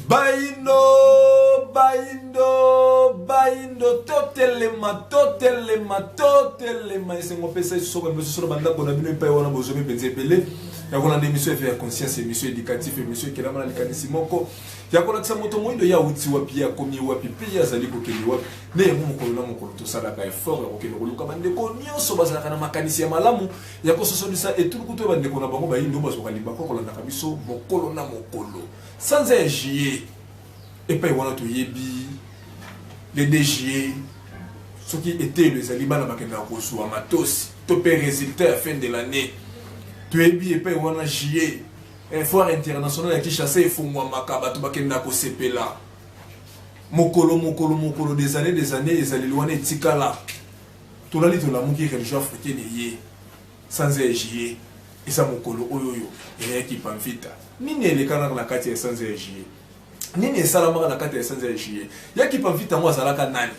Bayindo, bayindo, bayindo, totelema, totelema, totelema. Esengo pesa Yesu soko mbeso solo banda kona bino epai wana bozomi mpenza ebele. Ya kolanda emission efe ya conscience, emission éducative, emission ekelama na likanisi moko. Ya kolakisa moto moyindo ya uti wapi, ya komi wapi, mpe ye azali kokende wapi. Na yango mokolo na mokolo tosalaka effort ya kokende koluka bandeko nyonso bazalaka na makanisi ya malamu ya kososolisa etuluku to ya bandeko na bango bayindo bazwaka libaku kolandaka biso mokolo na mokolo sanza ya juillet epai wana toyebi le 2 juillet soki eteyelo ezali bana bakendaka kozwa matosi to mpe résultat ya fin de l'année toyebi epai wana juillet eh, foire internationale ya kinshasa efungwamaka bato bakendaka kosepela mokolo mokolo mokolo des années des années ezaleli wana etikala Tolali tolamuki religion africaine eye sanza ya juillet eza mokolo oyo oyo eyaki pamfita nini elekanaka na kati ya sanza ya juillet nini esalamaka na kati ya sanza ya juillet yaki pamfita yango azalaka nani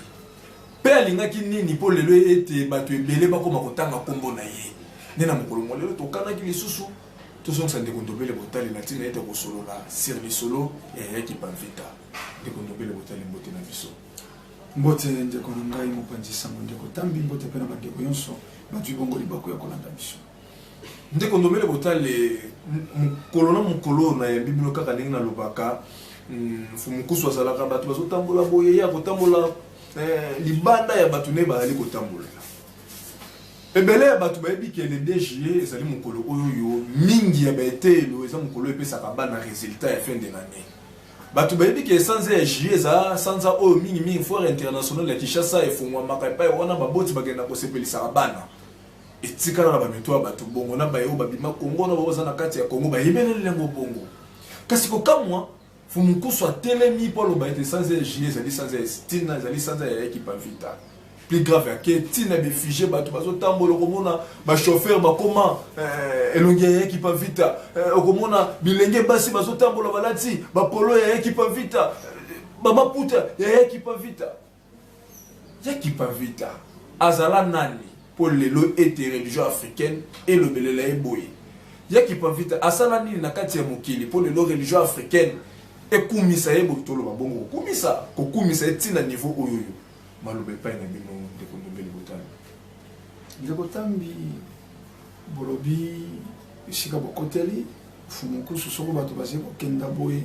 mpe alingaki nini mpo lelo ete bato ebele bakoma kotanga nkombo na ye nde na mokolo mwa lelo tokanaki lisusu tozongisa ndeko ndobele botali na ntina ete kosolola sir lisolo ya yaki pamfita ndeko ndobele botali mbote na biso Mbote ndeko na ngai mopanzi sango ndeko Tambi, mbote mpe na bandeko yonso bazwi bongo libaku ya kolanda biso. Ndeko Ndomele Botale, mokolo na mokolo oyo nayambi bino kaka ndenge nalobaka, Mfumukusu hmm, azalaka bato bazotambola boye, ye akotambola eh, libanda ya bato nde bazali kotambolela. Ebele ya bato bayebi ke le 2 juillet ezali mokolo oyo mingi ya baeteyelo eza mokolo epesaka bana resultat ya fin de l'année. Bato bayebi ke sanza ya juillet eza sanza oyo mingi mingi foire internationale ya Kinshasa efongwamaka epai wana baboti bakendaka kosepelisaka bana. Etikala na bamito ya bato bongo na baye oyo babima Congo na baye baza na kati ya Congo bayebeleli yango bongo. Kasi kokamwa, Mfumu Nkusu atelemi mpo aloba ete sanza ya juillet ezali sanza ya Tina, ezali sanza ya Ekipa Vita. plus grave ya ke ntina befigie bato bazotambola okomona bachauffeur bakoma eh, elongi ya ekipa vita eh, okomona bilenge basi bazotambola balati bapolo ya ekipa vita eh, bamaputa ya ekipa vita ya ekipa vita azala nani mpo lelo ete religion africaine elobelela ye boye ya ekipa vita asala nini na kati ya mokili mpo lelo religion africaine ekumisa ye boye toloba bongo kokumisa kokumisa ye ntina niveau oyoyo Maloba epai na bino ndeko Ndombele Botambi. Ndeko Tambi, bolobi esika bokoteli fumukusu soko bato bazali kokenda boye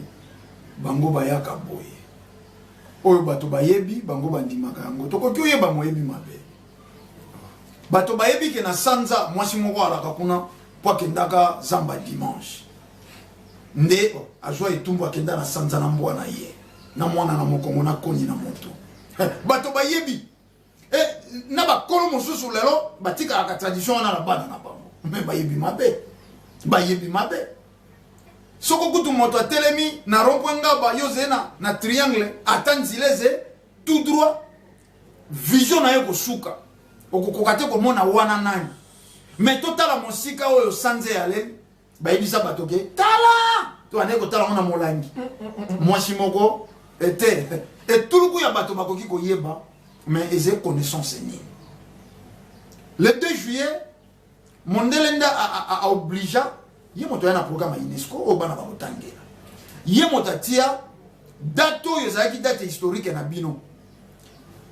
bango bayaka boye oyo bato bayebi bango bandimaka yango tokoki oyeba moyebi mabe bato bayebi ke na sanza mwasi moko alaka kuna mpo akendaka zamba dimanche nde azwa etumbu akenda na sanza na mbwa na ye na mwana na mokongo na koni na moto eh, bato bayebi eh, na bakolo mosusu lelo batikalaka tradition wana na bana na bango me bayebi mabe bayebi mabe soko kutu moto atelemi na rompwe ngaba yo zee na, na triangle ata nzila eze tout droit vision na ye kosuka okokoka te komona wana nani me totala mosika oyo sanze yaleli bayebisa bato ke tala to anaye kotala yango na molangi mm, mm, mm, mwasi moko ete etuluku ya bato bakoki koyeba mais eza connaissance nini le 2 juillet mondele nde aobligea ye moto aya na programme ya unesco oyo bana bakotangela ye moto atia date oyo ezalaki date historique na bino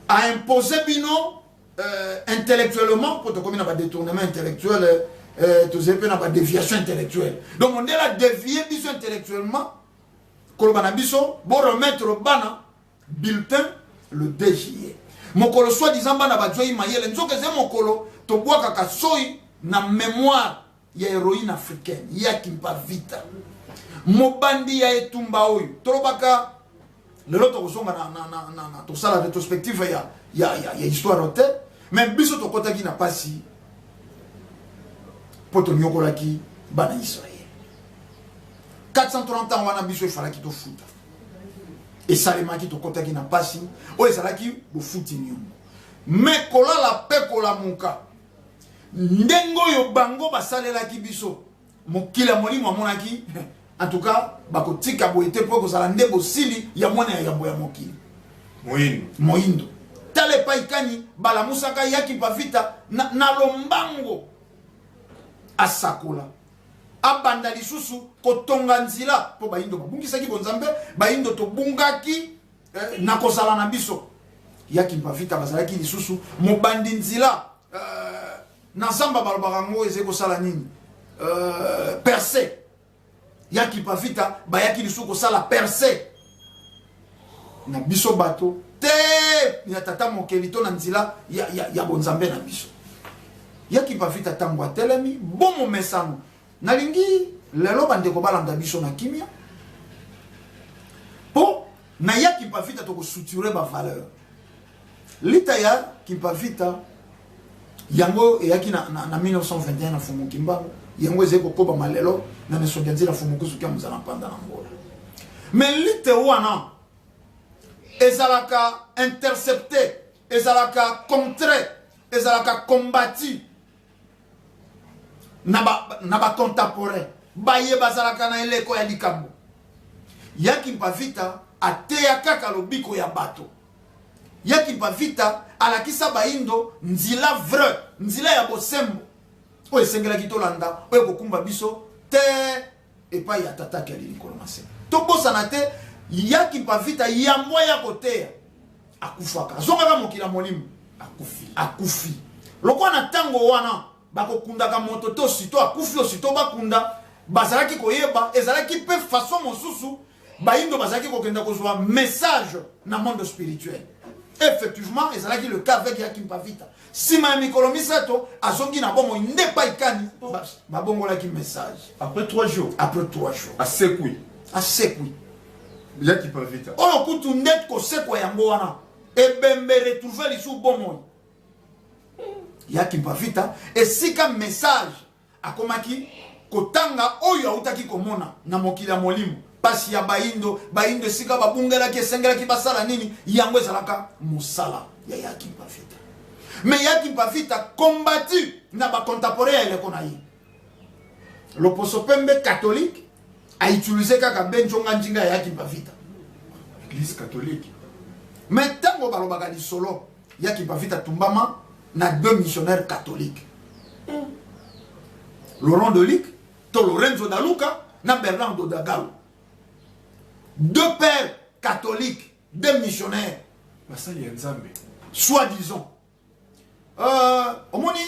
aimpose bino euh, intellectuellement mpo tokomi na badetournement intellectuel euh, tozali mpe na badeviation intellectuelle donc mondele adevie biso intellectuellement koloba na biso boremettre bana bulletin le 2 juillet mokolo soi disant bana bazwei mayele nzoka eze mokolo tobwakaka soi na mémoire ya heroine africaine ya kimpa vita mobandi ya etumba oyo tolobaka lelo tokozonga na, na, na, na, na tosala retrospective ya, ya, ya, ya histoire te me biso tokɔtaki na mpasi mpo tonyokolaki bana israel 430 ans wana biso efalaki tofuta esalemaki tokɔtaki na mpasi oyo ezalaki bofuti niongo me kolala mpe kolamuka ndenge oyo bango basalelaki biso mokili ya molimo amonaki en tout cas bakotika boye te mpo ekozala nde bosili ya mwana ya yambo ya mokili moindo moindo tala epai kani balamusaka yaki pavita na, na lombango asakola abanda lisusu kotonga nzela mpo baindo babungisaki bonzambe baindo tobungaki eh, na kozala na biso ya kimpavita bazalaki lisusu mobandi nzila eh, na zamba balobaka yango ezali kosala nini eh, perse ya kimpavita bayaki lisusu kosala perse na biso bato te ya tata mokeli to na nzila ya, ya, ya bonzambe na biso ya kimpavita ntango atelemi bomomesano Nalingi lelo bandeko balanda biso na kimia mpo na ya kimpavita tokosuture bavaleur lita ya kimpavita yango eyaki na, na, na 1921 na fumu kimbangu yango ezali kokobama lelo na misoki ya nzela fumu kusuki ya mozala mpanda na ngola me lite wana ezalaka intercepte ezalaka contre ezalaka combati na ba, na ba contemporain baye bazalaka na eleko ya likambo yaki mpavita ateya kaka lobiko ya bato yaki mpavita alakisa baindo nzila vrai nzila ya bosembo oyo esengelaki tolanda oyo kokumba biso te epai ya tata ake ali likolo na se tobosana te ya kimpavita yambo aya koteya akufaka azongaka mokili ya molimo akufi akufi lokola na ntango wana bakokundaka moto to sito akufi osito bakunda bazalaki koyeba ezalaki mpe faso mosusu bayindo bazalaki kokenda kozwa message na monde spirituel effectivement ezalaki le cas avec yakimpa vita nsima ya mikolo misato azongi na bomoi nde epai kani babongolaki message après 3 jours après 3 jours asekwi asekwi yakimpa vita oyo kutu nde kosekwa yango wana ebembe retrouve lisusu bomoi yakimpa vita esika message Akomaki kotanga oyo autaki komona na mokili ya molimo, mpasi ya baindo, baindo esika babungelaki, esengelaki basala nini. Yango ezalaka mosala ya Yaki Mpavita. Me Yaki Mpavita kombati na bakontapore ya eleko na ye loposo pembe katolike autilize kaka benjonga njinga ya Yaki Mpavita, eglise katolike. Me ntango balobaka lisolo ya kibavita atumbama na deux missionnaires catholiques hmm. laurent dolic to lorenzo daluka na bernard dodagalo deux pères catholiques deux missionnaires basali ya nzambe soit disant euh, omoni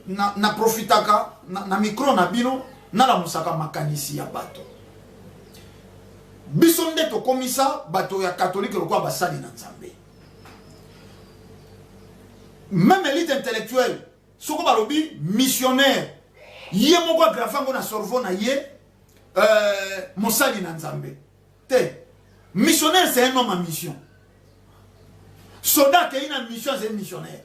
na, na profitaka na, na micro na bino nalamusaka makanisi ya bato biso nde tokomisa bato ya katolike lokola basali na nzambe meme elite intellectuelle soko balobi missionnaire ye moko agrave yango na sorvo na ye euh, mosali na nzambe te missionnaire c'est un homme à mission soda akei na mission azali missionnaire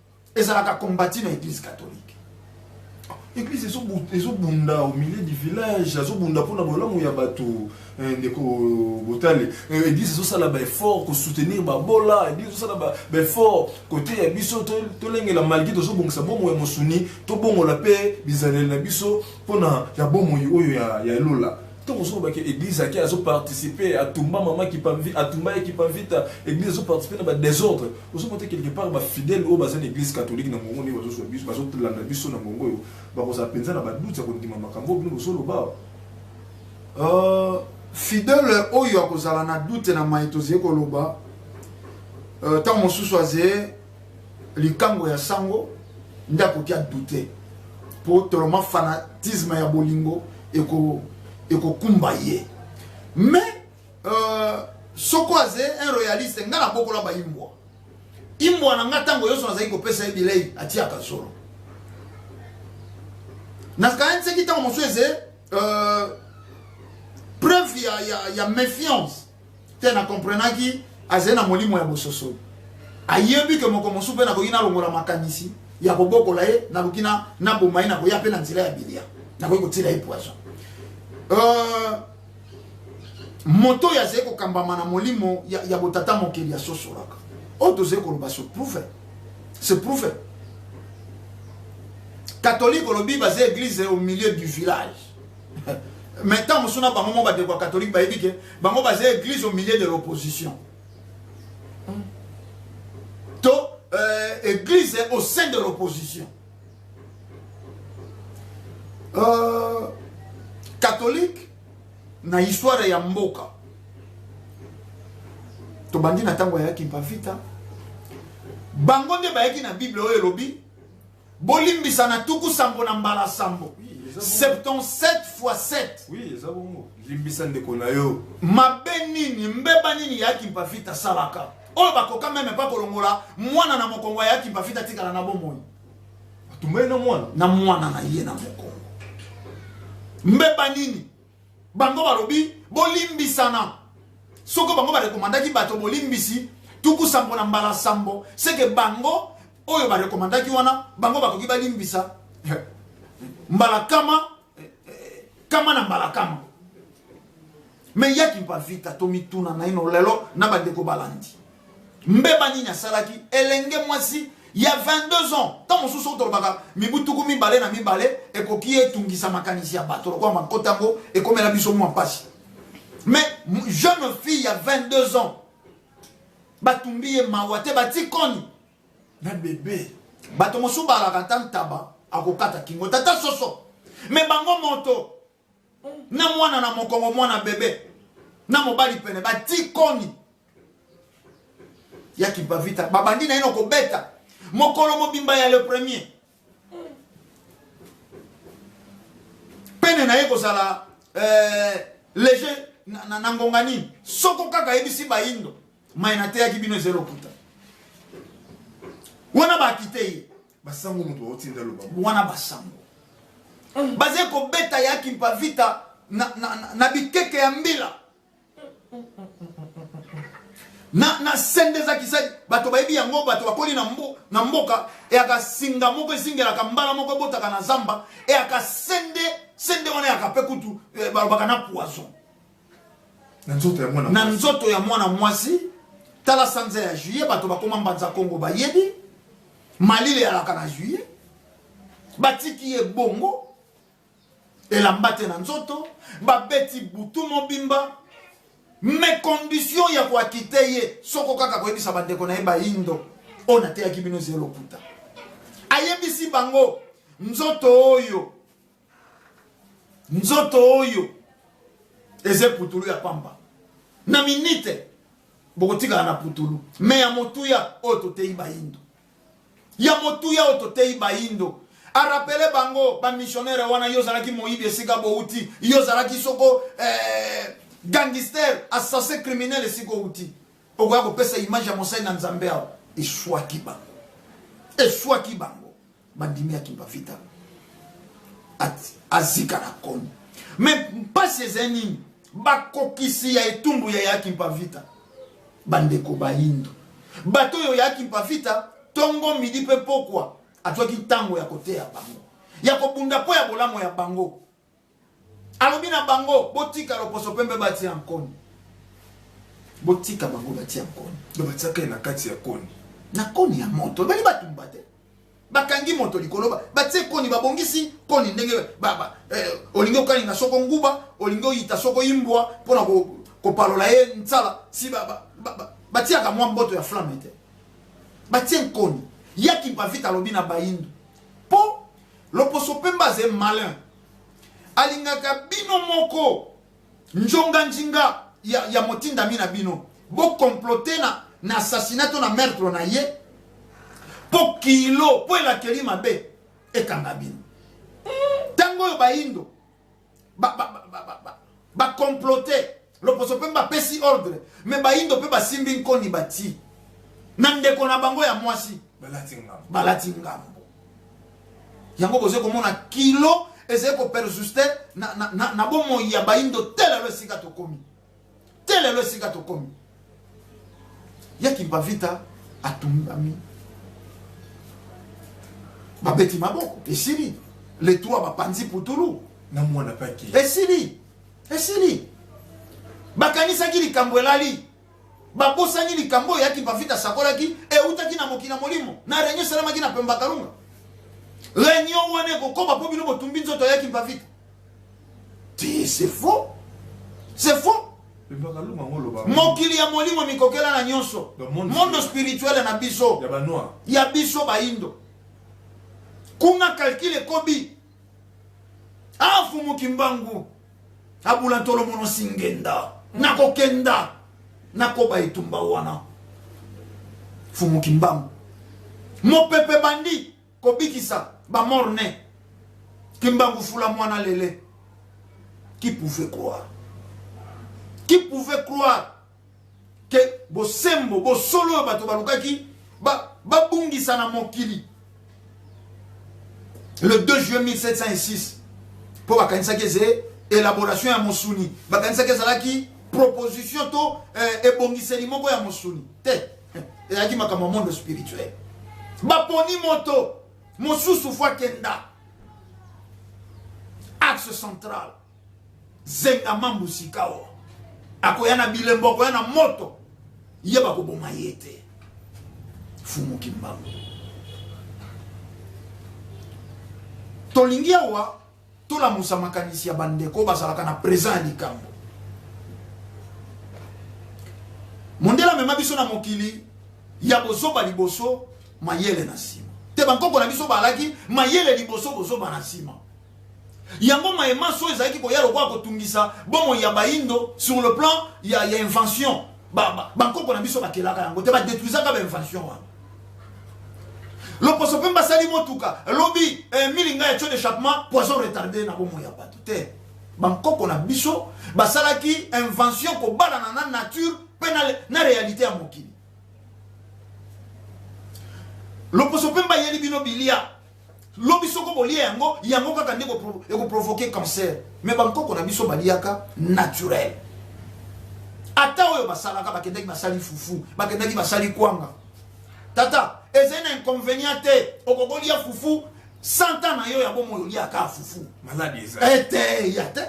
ezalaka combati na eglise catholique eglise ezobunda au milieu du village azobunda mpona bolamu ya bato eh, ndeko botale eh, eglise ezosala baeffort kosoutenir babola eglise ezosala baeffort kote ya biso tolengela malgre tozobongisa bomoi ya mosuni tobongola mpe bizaleli na biso mpona ya bomoi oyo ya lola ntango ozo lobaki église ake azoparticipe atumba mama kipamvi atumba ye kipamvita église azoparticipe na badésordre ozo mote quelque part ba fidèle oyo baza na église catholique na mongo ndenge bazozwa biso bazolanda biso na mongo oyo bakozala mpenza na baduti ya kondima makambo oyo bino bozoloba euh, fidèle oyo akozala na dute na mai tozali koloba euh, ntango mosusu azeye likango ya sango nde akoki adute mpo toloma fanatisme ya bolingo ekokumba ye mais euh, soko aze un royaliste nga nabokola baimbwa imbwa na nga ntango nyonso nazali kopesa ye bilei atiyaka zolo nakanisaki ntango mosusu eze euh, preuve ya, ya, ya méfiance te na comprenaki azali na molimo ya bososoli ayebi ke moko mosusu mpe nakoki nalongola makanisi ya kobokola ye naluki naboma ye nakoya mpe na nzela ya bilia nakoki kotiela ye poison euh, moto oyo azali kokambama na molimo ya, ya botata mokeli asosolaka oyo tozali koloba se prouve se prouve catholique olobi baza église au milieu du village mais ntango mosusu na bango mo badeko ya catholique bayebi ke bango baza église au milieu de l'opposition to euh, église au sein de l'opposition euh, catholique na histoire ya mboka tobandi na ntango ya kimpavita bango nde bayaki na bible oyo elobi bolimbisa na tuku sambo na mbala sambo 77 fois 7 oui, eza bongo limbisa ndeko na yo mabe nini mbeba nini ya kimpavita asalaka oyo bakoka meme mpa kolongola mwana na mokongo ayaki mpafita atikala na bomoi atumbeli na mwana na mwana na ye na mokongo mbeba nini bango balobi bolimbisana soko bango barekomandaki bato bolimbisi tuku sambo na mbala sambo seke bango oyo barekomandaki wana bango bakoki balimbisa mbala kama kama na mbala kama me yaki mpa vita tomituna naino lelo na bandeko balandi mbeba nini asalaki elenge mwasi ya 22 ans ntango mosusu otolobaka mibu tuku mibale na mibale ekoki etungisa makanisi ya bato lokola makota yango ekomela biso mwa mpasi mais jeune fille ya 22 ans batumbi ye mawa te batikoni na bebe bato mosusu balaka ata ntaba akokata kingo tata soso me bango moto na mwana na mokongo mwana bebe na mobali pene batikoni ya kimpavita babandi na yino kobeta mokolo mobimba ya le premier pene na ye kozala eh, lege na, na, na ngonga nini soko kaka ayebisi bayindo mai nateyaki bino eza lokuta wana bakite ye basango moto baotinda loba wana basango baze kobeta ya kimpavita na, na, na, na bikeke ya mbila na na sende eza kisai bato bayebi yango bato bakoli na, mbo, na mboka eyaka singa moko ezingelaka mbala moko ebotaka na zamba eyaka sende sende wana eyaka mpe kutu eh, balobaka na poison na nzoto ya mwana na nzoto ya mwana mwasi tala sanza ya juillet bato bakoma mbanza kongo bayebi malili eyalaka na juillet batiki ye bongo elamba te na nzoto babeti butu mobimba me condition ya koakite ye soko kaka koyebisa bandeko na ye bayindo oyo nateyaki bino zelo lokuta ayebisi bango nzoto oyo nzoto oyo eza eputulu ya pamba na minite bokotikala na putulu me ya motuya oyo toteyi bayindo ya motuya oyo toteyi bayindo arapele bango bamisionere wana yo ozalaki moyibi esika bouti yo ozalaki soko eh, gangister assassin criminel esika outi okoya kopesa image ya mosali na nzambe awa eswaki bango eswaki bango bandimi ya kimpavita azika na koni me mpasi ezali nini bakokisi ya etumbu ya yaki mpavita bandeko bayindo bato oyo yaki mpavita ntongo midi mpe pokwa azwaki ntango ya koteya bango ya kobunda mpo ya bolamu ya bango alobi na bango botika loposo mpe mpe batia nkoni botika bango batia nkoni batia kai na kati ya koni na koni ya moto ebali batumba te bakangi moto likolo batie koni babongisi koni ndenge eh, olingi okalinga soko nguba olingi oyita soko imbwa mpo na kopalola ye nsala si batiaka mwa mboto ya flamme te batie nkoni ya kimpavita alobi na bayindo mpo loposo mpemba aze malin alingaka bino moko Ndjonga ndjinga ya, ya motindami na bino bo comploter na, na assassinat to na meurtre na ye po kilo po elakeli mabe ekanga bino ntango oyo bayindo ba, ba, ba, ba, ba, ba, ba comploter loposo mpe bapesi ordre me bayindo mpe basimbi nkoni batii na ndeko na bango ya mwasi balati ngambo yango bozo komona kilo ezali ko perjuste na, na, na, na bomoi ya baindo te lelo esika tokomi te lelo esika tokomi ya kimpavita atumbami babeti maboko esili le 3 bapanzi putulu na mwana paki esili esili bakanisaki likambo elali Babosani likambo oyo yaki Bavita asakolaki eutaki na mokili na molimo na reunion esalamaki na Pemba Kalunga. Reunion wana ekokoba mpo bino botumbi nzoto yaki Bavita. C'est faux. C'est faux. mokili ya molimo mikokela na nyonso mondo spirituele na biso ya biso baindo kuna kalkile ekobi afumuki mbangu abula ntolo mono singenda nakokenda nakoba etumba wana fumu kimbangu mopepe bandi kobikisa bamorne kimbangu fula mwana lele qui pouvait croire qui pouvait croire ke bosembo bosolo oyo bato balukaki babungisa ba na mokili le 2 juin 1706 mpo bakanisaki eze élaboration ya mosuni bakanisaki ezalaki proposition to eh, ebongiseli moko ya mosuni te eh, ezalaki makambo ya monde spirituel baponi moto mosusu fo akenda axe central zenga mambu sikawa akoya na bilembo akoya na moto ye bakoboma ye te fumu kimbangu tolingi awa tolamusa makanisi ya bandeko bazalaka na présent ya likambo mondele amema biso na mokili ya bozoba liboso mayele na nsima te bankoko na biso balaki mayele liboso bozoba na nsima yango maye manso oyo ezalaki koya lokola kotungisa bomoi ya bayindo sur le plan ya, ya invention bankoko na biso bakelaka yango te badetruisaka bainvention wana loposo mpe basali motuka lobi eh, milinga ya tio d'échappement poison retarde na bomoi ya bato te bankoko na biso basalaki invention kobalana na nature mpe na, na réalité ya mokili loposo mpe mbayeli bino bilia lobi soko bolia yango yango kaka nde ekoprovoke cancer me bankoko na biso baliaka naturel ata oyo basalaka bakendaki basali fufu bakendaki basali kwanga tata ezali na inconvénient te okokolia fufu santa na yo ya bomoi oliaka fufu maladi eza ete ya te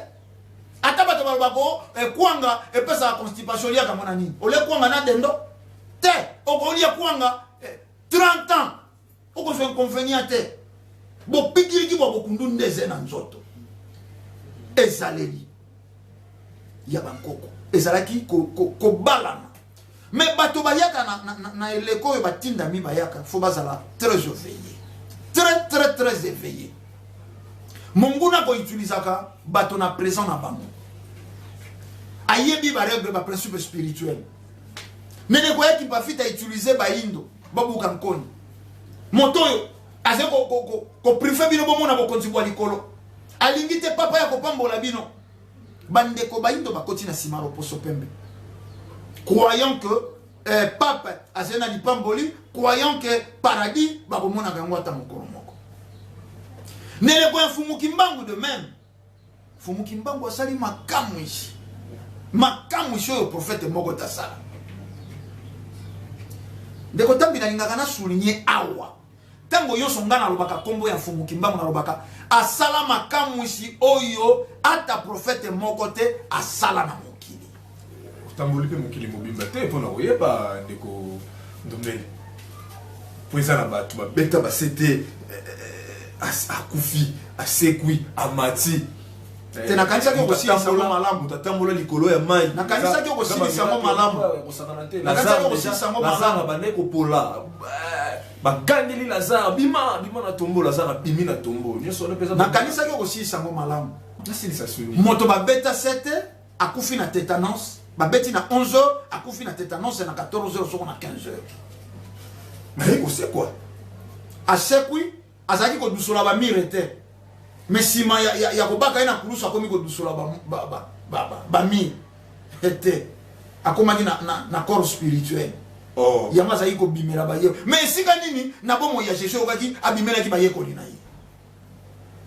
ata bato baloba ko ekwanga eh, epesaka constipation oliaka mona nini olie kwanga na dendo te okolia kwanga 30 eh, ans okozwa inconvénient te bopikiliki bwa bokundu nde eze na nzoto ezaleli ya bankoko ezalaki kobalana ko, ko me bato bayaka na, na, na, na eleko oyo batindami bayaka fo bazala très éveillé très très très éveillé monguna koutilisaka bato na présent na bango ayebi baregle baprincipe spirituel mene koya kimpafita utilize bayindo babuka nkoni moto oyo azali koprive bino bomona bokonzi bwa likolo alingi te papa ya kopambola bino bandeko bayindo bakoti na nsima loposo pembe croyant que eh, pape azali na lipamboli croyant que paradis bakomonaka yango ata mokolo moko neleko ya mfumuki mbangu de meme Fumu Kimbangu asali makamwisi makamwisi oyo profete moko tasala ndeko tambi nalingaka na souligne awa ntango nyonso ngai nalobaka nkombo ya mfumu kimbangu nalobaka asala makamwisi oyo ata profete moko te asala na mokili Otamboli mpe mokili mobimba te mpo na koyeba ndeko Ndombele, mpo eza na bato babeta basete eh, eh, as- akufi asekwi amati Te, nakanisaki okosilisa yango malamu. tatambola likolo ya mai Nakanisaki Eza- okosilisa eza yango bamiracle malamu. oyo ekosakana te. Nakanisaki Lazare okosilisa yango deja- Lazare malamu. abandaki kopola Eh, bagangeli lazare bima bima na tombo lazare abimi na tombo nyonso wana mpe eza nakanisaki okosilisa yango malamu nasilisa soni moto babeta sete akufi na tetanus babeti na 11 heures akufi na tetanus na 14 heures soko na 15 heures naye kosekwa asekwi azalaki kodusola bamire te me nsima ya, ya, ya kobaka ye na kulusu akomi kodusola bamire ba, ba, ba, ba, ba, ba te akomaki na, na, na corps spirituel oh. yango azalaki kobimela baye me esika nini na bomoi ya jesus okaki abimelaki bayekoli na ye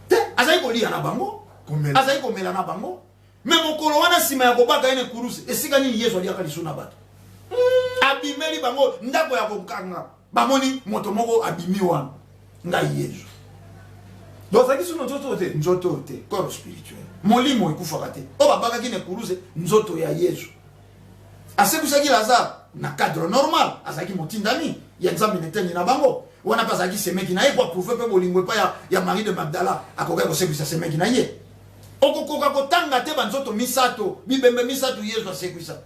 te azalaki koliya na bango azalaki komela na bango me mokolo wana nsima ya kobaka ye na ekurusi esika nini yesu aliaka lisu na bato abimeli bango ndako ya kokanga bamoni moto moko abimi wana ngai yesu dozalaki sino nzoto te nzoto te corps spirituel molimo ekufaka te oyo babakaki na ekurusi nzoto ya yesu asekwisaki lazare na cadre normal azalaki motindami ya nzambe na eteni na bango wana mpe azalaki semeki na ye po aprouve mpe bolingo epai ya marie de magdala akokaki kosekwisa semeki na ye Okokoka kotanga te banzoto misato, bibembe misato Yezu asekwisa.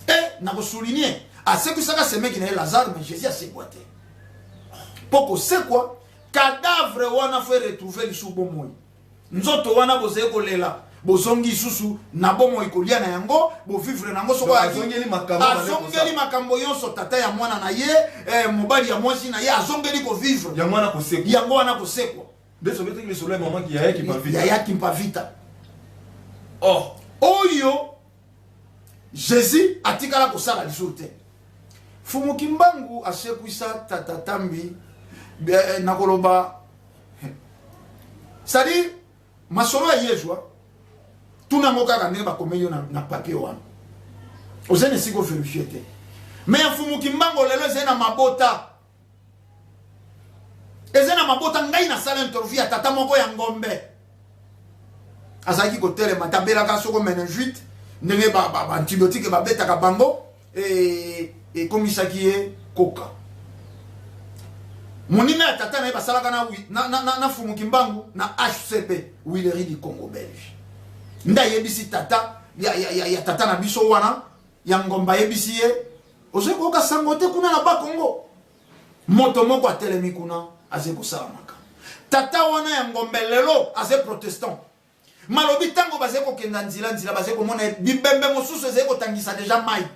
E, nakosouligne, asekwisaka semeki na ye Lazare, mais Jésus asekwa te. Mpo kosekwa, cadavre wana fo eretrouve lisusu bomoi. Nzoto wana bozali kolela bozongi lisusu na bomoi kolia na yango bovivre na yango soko azongeli makambo nyonso tata ya mwana na ye eh, mobali ya mwasi na ye azongeli kovivre yango wana kosekwa Nde soki eteki lisolo ya mama ki yaya Kimpavita. Yaya Kimpavita. Oh. Oyo Jésus atikala kosala lisusu te. Fumu Kimbangu asekwisa tata Tambi eh, nakoloba c'est-à-dire masolo ya Yesu hein. tuna yango kaka ndenge bakomeli yo na, na papier wana ozali na esika overifie te me ya mfumu kimbango lelo ezali na mabota eza na mabota ngai nasala interview ya tata moko ya ngombe azalaki kotelema tabelaka soko meninjuite ndenge baantibiotike babetaka bango e, ekomisaki ye koka moninga ya tata na ye basalaka na, na, na, na, na fumuki mbangu na hcp wileri du congo belge nde ayebisi tata ya, ya, ya, ya tata na biso wana ya ngomba ayebisi ye ozali koyoka sango te kuna na bakongo moto moko atelemi kuna azali kosala makambo tata wana ya ngombe lelo azali protestant malobi ntango bazali kokenda nzila nzila bazali komona bibembe mosusu ezali kotangisa deja mai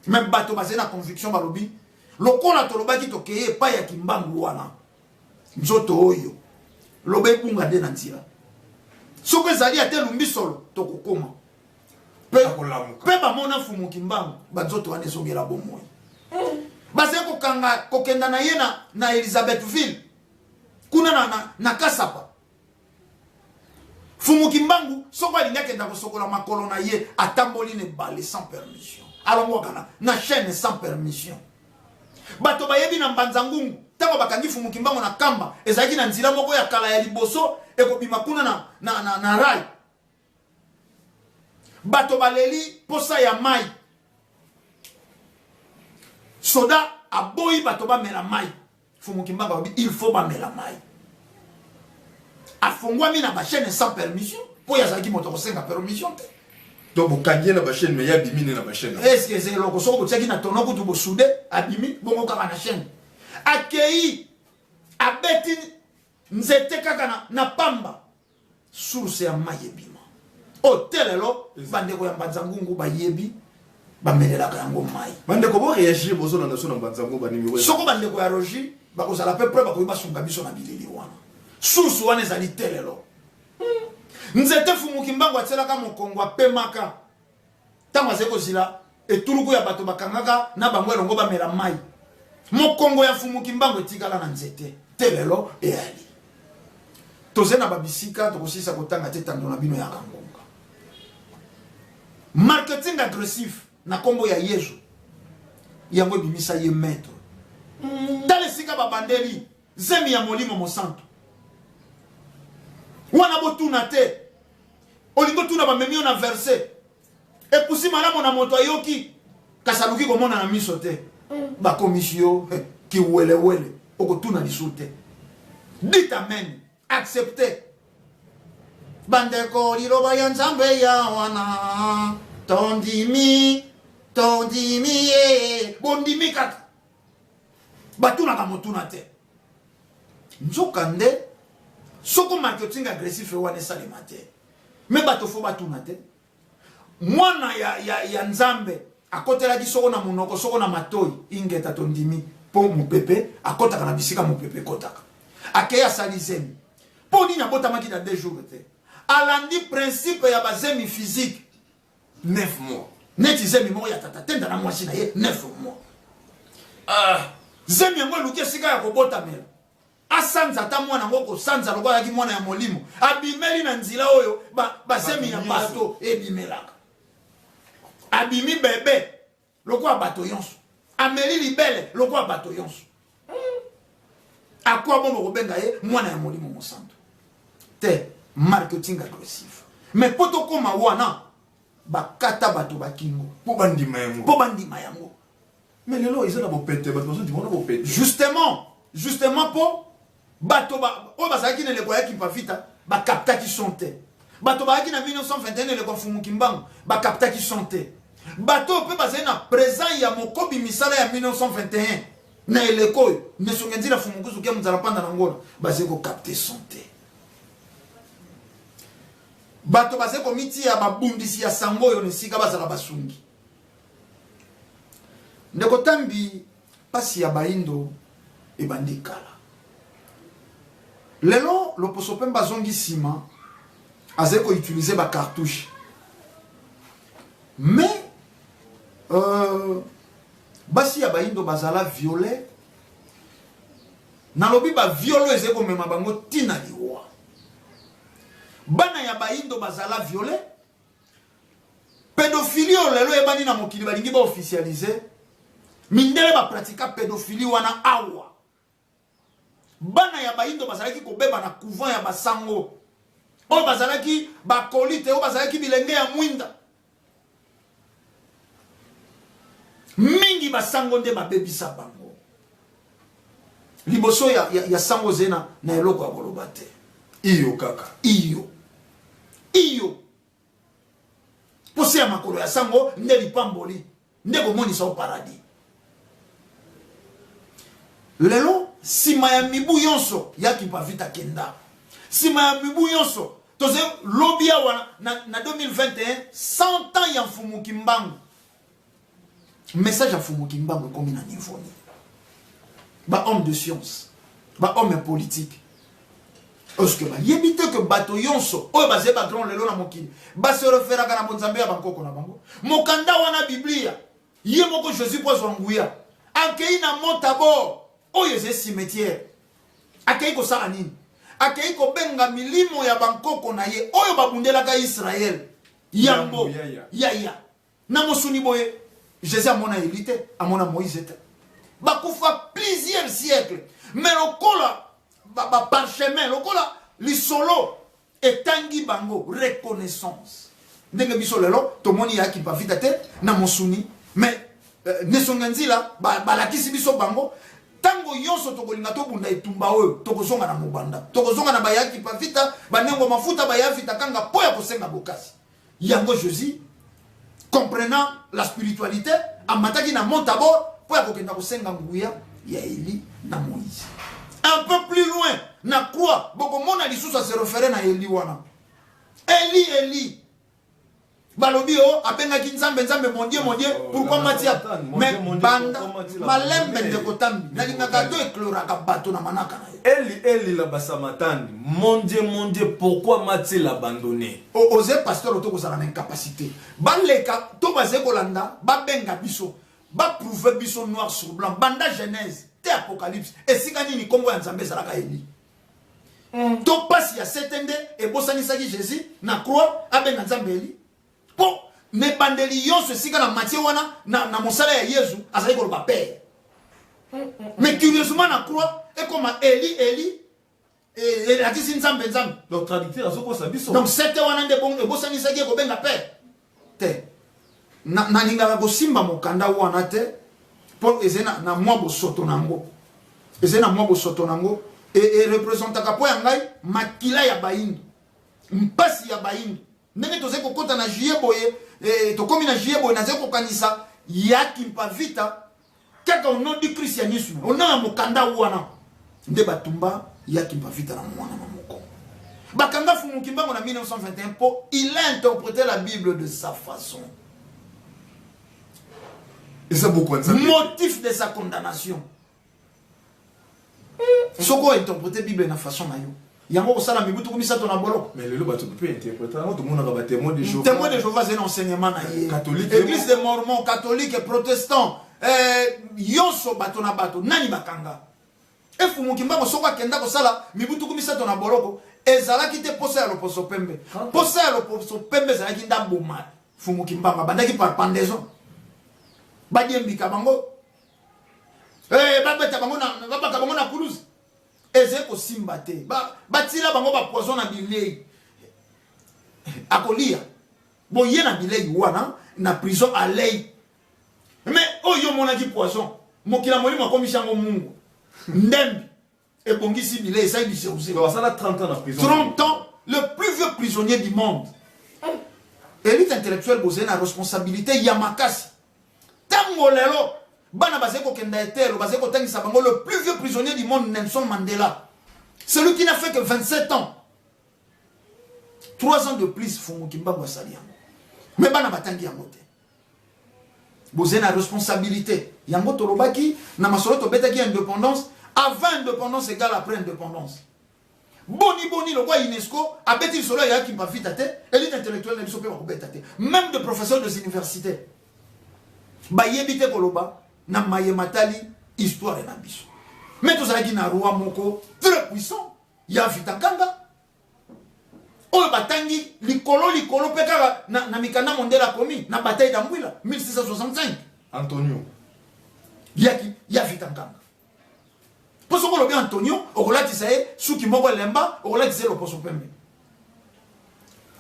me bato bazali na conviction balobi lokola tolobaki tokei epai ya kimbangu wana nzoto oyo loba ebunga nde na nzela soki ezali ata elumbi solo tokokoma mpe bamona mfumu kimbangu banzoto wana ezongela bomoi bazali kokanga kokenda na ye na, na elizabethville kuna na, na, na kasapa mfumu kimbangu soko alingi akenda kosokola makolo na ye atamboli na ebale sans permission alongwaka na, na chaîne sans permission bato bayebi na mbanza ngungu ntango bakangi mfumu kimbangu na kamba ezalaki na nzela moko ya kala ya liboso ekobima kuna na, na, na, na rai bato baleli mposa ya mai soda aboyi bato bamela mai fumu kimbangu alobi il faut bamela mai afongwami na bachaine sans permission mpo ye azalaki moto akosenga permission te donc bokangi ye na bachaine mais ye abimi nde na bachaine eske eza eloko soki botiaki na tono kutu bosude abimi bongo kaka na chaine akei abeti nzete kaka na, na pamba source ya mai ebima o oh, te lelo bandeko ya mbanza ngungu bayebi bamelelaka yango mai bandeko boreagir bozolanda so na mbanza ngungu banimero soko bandeko ya rogi bakozala mpe pre bakoki basunga biso na bilili wana source wana ezali te lelo hmm. nzete fumuki mbango atielaka mokongo apemaka ntango azali kozila etuluku ya bato bakangaka na bango elongo bamela mai mokongo ya mfumu kimbangu etikala na nzete te lelo eyali toze na babisika tokosisa kotanga te tando na bino ya kangonga marketing agressif na nkombo ya yezu yango ebimisa ye maître tala esika babandeli Zemi ya molimo mosantu. Wana botuna te. Olingo tuna bamemi yo na verse. Epusi malamu na moto ayoki. Kasi aluki komona na miso te. Mm. Bakomisi yo eh, kiwelewele. Okotuna lisu te. Dit amen. Accepte. Bandeko liloba ya nzambe ya wana. Tondimi. Tondimi ye. Bondimi kaka. batunaka motuna te nzoka nde soko marketing agressif wana esalema te me bato fo batuna te mwana ya, ya, ya nzambe akotelaki soko na monoko soko na matoi ingeta tondimi mpo mopepe akotaka na bisika mopepe ekotaka akei asali zemi mpo nini abotamaki na deux jours te alandi principe ya bazemi physique 9 mois neti zemi moko ya tata tenda na mwasi na ye 9 mois ah, zemi yango eluki esika ya kobotamela asanza ata mwana yango kosanza lokola ayaki mwana ya molimo abimeli na nzela oyo bazemi ba ya bato ebimelaka abimi bebe lokola bato yonso ameli libele lokola bato yonso hmm. akwa bongo kobenga ye mwana ya molimo mosantu te marketing agressif mais mpo tokóma wana bakata bato bakingo mpo bandima yango mpo bandima yango mais lelo eza na bopete bato bazondima wana bopete justement justement mpo bato ba, oyo bazalaki na eleko ya kimpavita bakaptaki son te bato bazalaki na 1921 eleko ya mfumu kimbangu bakaptaki son te bato oyo mpe bazali na présent ya mokobi misala ya 1921 na eleko oyo nesonge nzila fumukuzu ke mozala mpanda na ngola bazali kokapte son te bato bazali komitia babundisi ya sango oyo na esika bazala basungi ndeko tambi Pasi ya bayindo ebandi kala. Lelo loposo pembe azongi sima azali ko utiliser ba cartouche. Mais euh, basi ya bayindo bazala viole nalobi baviolo ezali komema bango ntina liwa bana ya bayindo bazala viole pedophilie oyo lelo eyebani na mokili balingi baofficialize mindele bapratika pedophilie wana awa bana ya bayindo bazalaki kobeba na couvent ya basango oyo bazalaki bakolite oyo bazalaki bilenge ya mwinda mingi basango nde babebisa bango liboso ya, ya, ya sango ozali na, na eloko ya koloba te iyo kaka iyo iyo posa ya makolo ya sango nde lipamboli nde komonisa o paradis lelo nsima ya mibu yonso ya kipavita kenda nsima ya mibu yonso toze lobi awa na, na 2021 100 ans ya mfumu kimbangu message ya mfumu kimbangu ekomi na niveau nini bahomme de science bahomme politique parceke bayebi te ke bato yonso oyo bazali bagrand lelo na mokili basereferaka na bonzambe ya bankoko na bango mokanda wana biblia Ye moko Jesus mpo azwa nguya akei na mota bo oyo ezali cimetiere. Akei kosala nini? Akei kobenga milimo ya bankoko na ye oyo babundelaka Israele yambo yaya na mosuni boye. Jesus amona Eli te, amona Moïse te, bakufa plusieurs siècles mais lokola baparchemin ba lokola lisolo etangi bango reconnaissance ndenge biso lelo tomoni ya kimpavita te na mosuni mais euh, nesonga nzila balakisi biso bango ntango nyonso tokolinga tobunda etumba oyo tokozonga na mobanda tokozonga na bayakipa vita banengo mafuta bayavita kanga mpo ya kosenga bokasi Yango Josie, comprenant la spiritualité, amataki na Mont Tabor mpo ya kokenda kosenga nguya ya Eli na Moïse. Un peu plus loin, na croix, bokomona lisusu ase refere na Eli wana. Eli, Eli, balobi o oh, abengaki nzambe nzambe mondie mondie oh, pourkui matia mais banda malembe ndeko tambi nalingaka to ekloraka bato na manaka na ye eli eli la basamatani mondie mondie pourkui matia la bandone oze pasteur oto kozala na incapacité baleka to bazali kolanda babenga biso baprouve biso noir sur blanc banda genèse te apocalypse esika nini nkombo ya nzambe ezalaka eli mm. to mpasi ya sete nde ebosanisaki jésus na croix abenga nzambe eli mpo na ebandeli nyonso esika na matie wana na, na mosala ya yezu azali koloba pere mais curieusement na croix ekoma eli eli elakisi nzambe nzambe donc traducteur azokosa biso donc sete wana nde ebosanisaki ye kobenga père te nalingaka kosimba mokanda wana te mpo ezali na mwa bosoto na yango ezali na mwa bosoto na yango erepresentaka e mpo ya ngai makila ya bayindo mpasi ya bayindo Ndenge tozali kokota na juillet boye eh, tokomi na juillet boye nazali kokanisa ya kimpa vita kaka ono di christianisme ona ya mokanda wana nde batumba ya kimpa vita na mwana na moko bakanga fumuki mbango na 1921 mpo il a interprete la bible de sa façon eza bokwanza motif de sa condamnation soki o interprete bible na façon na yo yango kosala mibu tuku misato na boloko mais lelo bato mpe interprete yango tomonaka ba témoin de jehova témoin de jehova azali na enseignement na ye catholique église de mormon catholique protestant eh, yonso bato na bato nani bakanga efumuki mbango soko akenda kosala mibu tuku misato na boloko ezalaki te mposa ya loposo pembe mposa ya loposo pembe ezalaki nde aboma fumuki mbango abandaki par pendaison badiembika bango Hey, eh, babeta bango na babaka bango na kuluzi eze kosimba te batila ba bango bapoison na bilei akolia boye na bilei wana na prison alei me oyo omonaki poison mokila molimo akomisi yango mungu ndembi ebongisi bilei esali biseuse Donc, asala 30 ans na prison 30 ans le plus vieux prisonnier du monde elite intellectuelle bozali na responsabilité ya makasi ntango lelo bana bazali kokenda etelo bazali kotangisa bango le plus vieux prisonnier du monde nelson mandela celui qui n'a fait que 27 ans 3 ans de plus fungu kimbangu asali yango me bana batangi yango te Boze na responsabilité. Yango tolobaki na masolo tobetaki indépendance avant indépendance égale après indépendance. Boni boni lokwa UNESCO abeti lisolo ya Kimpa Vita te, elite intellectuelle na biso pe bakobeta te. Même de professeurs des universités. Bayebi te koloba na maye matali histoire na biso. Mais tozalaki na roi moko très puissant ya Vita Kanga oyo batangi likolo likolo mpe kaka na, na mikanda mondele akomi na bataille d'ambwila 1665 antonio yaki ya vita nkanga mpo soki olobi antonio okolatisa ye suki moko elemba okolatisa ye loposo pembe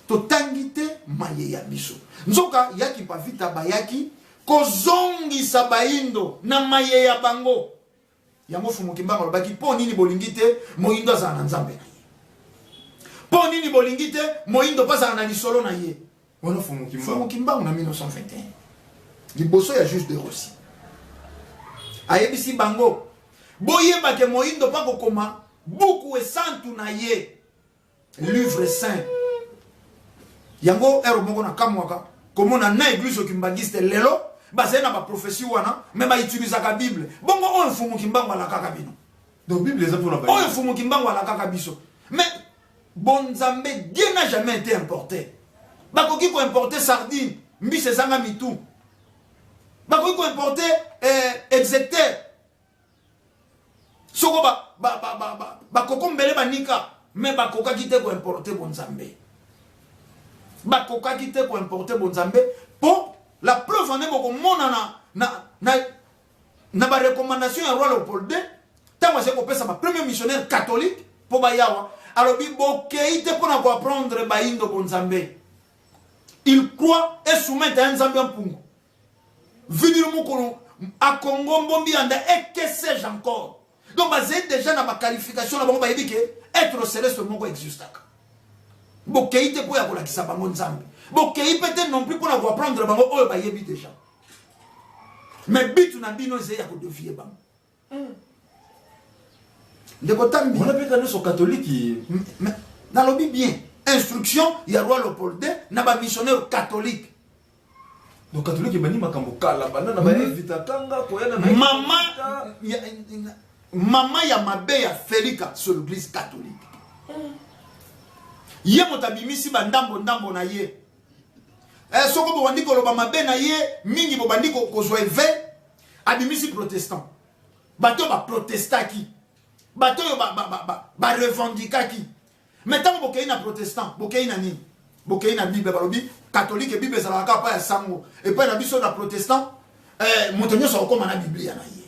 totangi te maye ya biso nzoka yaki bavita bayaki kozongisa baindo na maye ya bango Yango Fumu Kimbangu alobaki mpo nini bolingi te moyindo azala na nzambe na ye? Mpo nini bolingi te moyindo mpo azala na lisolo na ye? Wana Fumu Kimbangu. Fumu Kimbangu na 1921 liboso ya juge de Rossi ayebisi bango boyeba ke moyindo mpo akokoma buku esantu na ye livre saint yango ero moko na kamwaka komona na eglise okimbangiste lelo bazali na baprofesi wana me bautilisaka bible bongo oyo mfumu kimbangu alakaka bino donc bible eza mpona oyo mfumu kimbangu alakaka biso me bonzambe dieu na jamais été importe bakoki koimporte sardine mbisi ezanga mitu bakoki koimporte eh, execteur soko bakoko mbele banika me bakokaki te koimporte bonzambe bakokaki te koimporte bonzambe mpo la preuve ane bokomona na, na, na, na barecommandation ya roi leopold ii ntango azali kopesa bapremier missionnaire catholique mpo bayawa alobi bokei te mpo na koapprendre baindo bonzambe il croit esumete ya nzambe ya mpungu Vinilo Mukulu akongo mbombi anda et que sais-je encore donc bazali déjà na baqualification na bango bayebi ke être celeste moko existaka bokei te mpo ya kolakisa bango nzambe bokei mpe te non plus mpo na koaprendre bango oyo bayebi déjà mais bitu na bino ezali ya kodevier bango ndeko tambi wana mpe kaniso katoliki nalobi bien instruction ya roi lopolde na bamissionnaire catholique donc catholique ebandi makambo kala banda na baevita hmm. kanga koyana na mama mama ya mabe ya felika sur l'église catholique hmm. ye moto abimisi bandambo ndambo na ye eh, soko bobandi koloba mabe na ye mingi bobandi kozwa eve abimisi protestant bato oyo baprotestaki bato oyo barevendikaki mai ntango bokei na protestant bokei na nini bokei na bible balobi katolike bible ezalaka kaka mpo ya sango epai na biso na protestant eh, moto nyonso akokóma na biblia na ye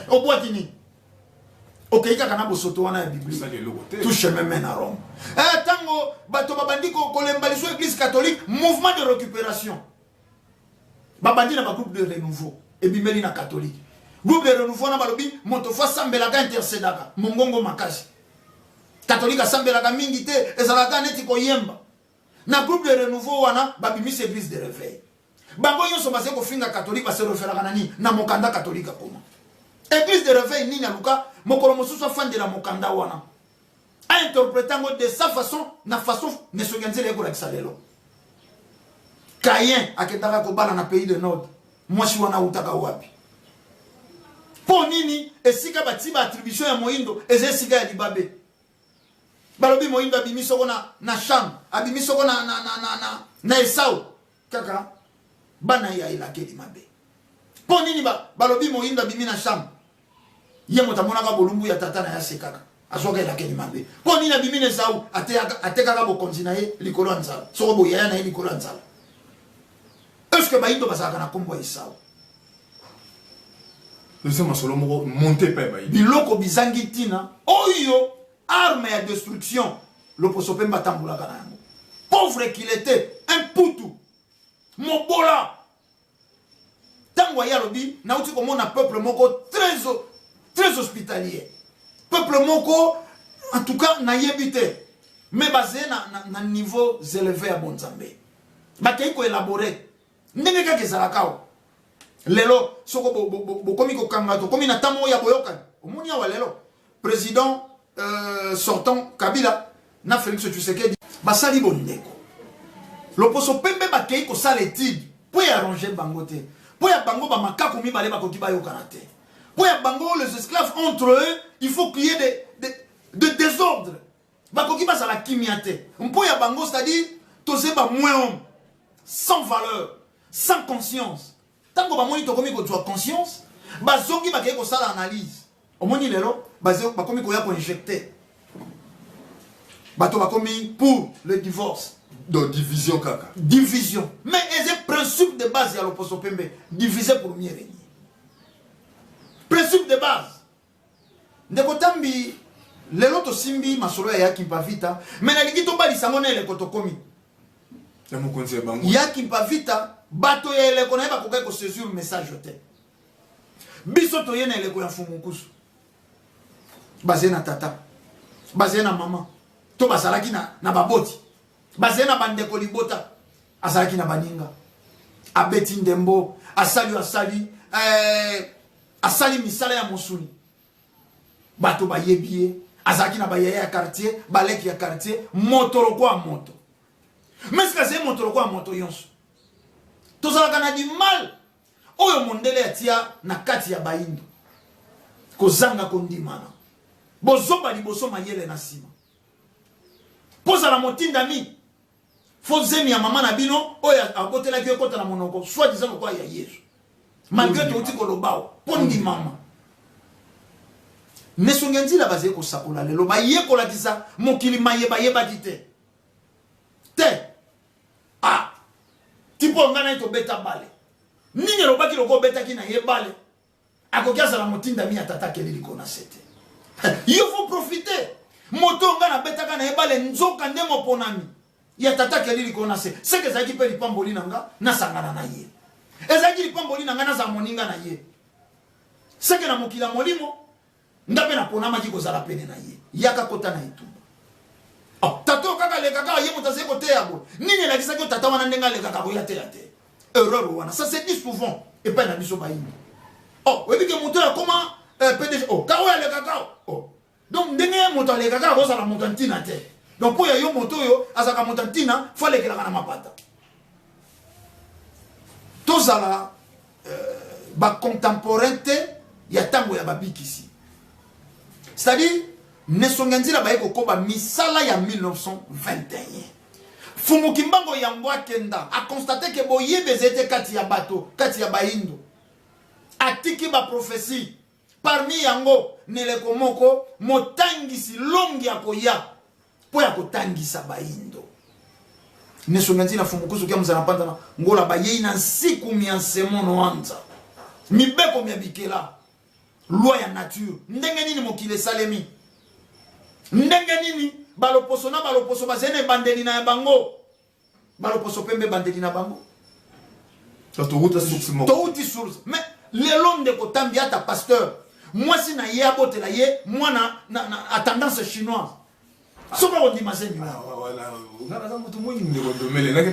obwaki nini okei kaka na bosoto wana ya biblia toucheme me na rome ntango eh, bato babandi kolemba liso eglise catholique mouvement de récupération babandi na bagroupe de renouveau ebimeli na catholique groupe de renouveau wana balobi moto fo asambelaka intercedaka mongongo makasi catholique asambelaka mingi te ezalaka neti koyemba na groupe de renouveau wana babimisi église de réveil bango nyonso bazali kofinga catholique base referaka na nini na mokanda catholique akoma église de réveil nini aluka mokolo mosusu afandela mokanda wana a interpreta yango de sa façon na façon nesongi ya nzela ekolakisa lelo kayen akendaka kobala na pays de nord mwasi wana autaka wapi mpo nini esika batii baattribution ya moindo eza esika ya libabe balobi moindo abimi soko na, na sham abimi soko na, na, na, na, na, na esau kaka bana ya elakeli mabe mpo nini balobi moyindo abimi na chambre ye moto amonaka bolumbu ya tata na ye asekaka azwaka elakeli mabe mpo nini abimi na esau atekaka bokonzi na ye likolo ya nzala soko boyaya na ye likolo ya nzala estce bayindo bazalaka na nkombo ya esau eza masolo moko monte epai bayindo biloko bizangi ntina oyo arme ya destruction loposo pembe atambolaka na yango pauvre qu'il était un putu mobola ntango aye alobi nauti komona peuple moko très, très hospitalier peuple moko en tout cas nayebi te mais bazeye na, na, na niveau éleve ya bonzambe bakei koelabore ndenge kaka ezalaka o lelo soko bokomi bo, bo, kokanga tokomi na ntango oyo ya boyokani omoni awa lelo President euh, sortant Kabila na Felix Tshisekedi basali bondeko loposo pembe bakei kosala etide mpo ya arrange bango te mpo ya bango bamakaku mibale bakoki bayokana te mpo ya bango les esclaves entre eux il faut qu'il y ait de, de, de désordre bakoki bazala kimia te mpo ya bango c'est-à-dire toze ba moins homme sans valeur sans conscience Tango bamoni tokomi kozua conscience, bazongi bakei kosala analyse. Omoni lelo bakomi koya ko injecter. Bato bakomi pour le divorce. Donc division kaka. Division. Mais eza principe de base ya loposo pembe, diviser pour mieux régner. Principe de base. Ndeko Tambi, lelo tosimbi masolo ya Yakimpa Vita, me nalingi tobalisa yango na eleko tokomi ya mokonzi ya bango. Yakimpa Vita, bato ya eleko na ye bakokaki kosaisir message te. Biso toye na eleko ya Mfumu Nkusu, bazali na tata, bazali na mama, to bazalaki na, na baboti, bazali na bandeko libota, azalaki na baninga, abeti ndembo, asali asali eh, asali misala ya mosuni bato bayebi ye azalaki na bayaya ya quartier baleki ya quartier moto lokola moto mais kasi ye moto lokola moto yonso tozalaka na dimal oyo mondele atia na kati ya baindo kozanga kondimana bozoba liboso mayele na nsima kozala motindami Faut zemi ya mama na bino oyo abotelaki yo ekota na monoko soit disant lokola ya Yesu. Malgré touti kolobao mpo ndimama. Nesongi ya nzila bazali kosakola lelo bayekolakisa mokili maye bayebaki te. Te. Ah. Tipo ngai naye tobeta bale. Nini elobaki lokola obetaki na ye bale? akoki azala motindami ya tata akeli likolo na se te yo faut profiter moto nga nabetaka na ye bale nzoka nde moponami ya tata akeli likolo na se seke ezalaki mpe lipamboli na nga nasangana na ye ezalaki lipamboli na nga nazala moninga na ye seke na mokili ya molimo nga mpe naponamaki kozala pene na ye yaka kota na etumba oh, tata oyo kaka aleka kaka ye moto azali koteya boye nini elakisaki yo tata wana ndenge alekaka koya teya te erreur wana ça se dit souvent epai na biso bayini o oh, oyebi ke moto oyo akoma eh, pdg o oh, kaka oyo alekaka o oh. donc ndenge ye moto alekaka akozala moto ya ntina te donc mpo ya yo moto oyo azalaka moto ya ntina fo alekelaka na mapata tozala euh, bacontemporain te ya ntango ya babikisi c'est-à-dire nesonge nzila baye kokoba misala ya 1921 fumu kimbango yango akenda akonstate ke boyebi ezali te kati ya bato kati ya baindo atiki baprofesi parmi yango neleko moko motangisi longi ya koya mpo ya kotangisa bayindo neso myanzi na fumukusu kia muzana mpanza na ngola bayei na nsiku mya nsemo noanza mibeko mya bikela loi ya nature ndenge nini mokili esalemi ndenge nini baloposo na baloposo bazali na ebandeli na ya bango baloposo pembe bandeli na bango touti source mais lelo ndeko tambi ata pasteur mwasi na ye abotela ye mwana a tendance chinoise soko akondima zemi ah,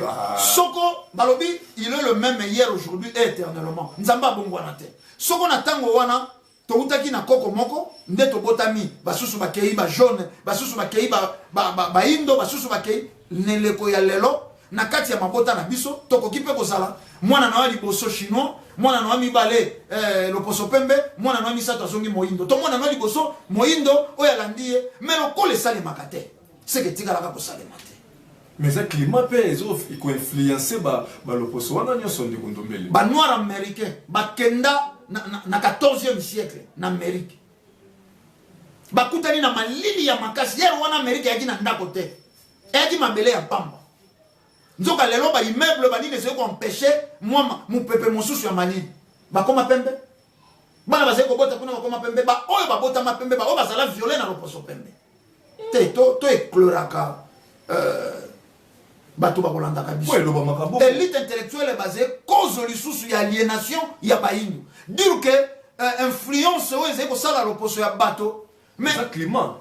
ah. soko balobi il est le même hier aujourd'hui et éternellement nzambe abongwana te soko na ntango wana towutaki na koko moko nde tobotami basusu bakei ba jaune basusu bakei baindo ba, ba, ba basusu bakei na eleko ya lelo na kati ya mabota na biso tokoki mpe kozala mwana na yo liboso chinois mwana na yo mibale eh, loposo pembe mwana na yo misato azongi moindo to mwana na yo liboso moindo oyo alandi ye me lokola esalemaka te seke etikalaka kosalema te Mais eza climat pe ezo ko influencer ba ba loposo wana nionso ndeko ndombele. Ba noirs américains bakenda na, na, na 14e siècle na Amérique. Bakutani na malili ya makasi. Yero wana Amérique yaki na ndako te. Yaki mabele ya pamba. Nzoka lelo ba immeuble ba nini ezali ko empêcher mwa mupepe mosusu ya malili. Bakoma pembe. bana bazali kobota kuna bakoma pembe baoyo babotama pembe baoyo bazala viole na loposo pembe te to ecloraka euh, bato bakolandaka biso elite intellectuelle base kozo lisusu ya aliénation ya bayindo dire ke euh, influence oyo ezali kosala loposo ya bato mais climat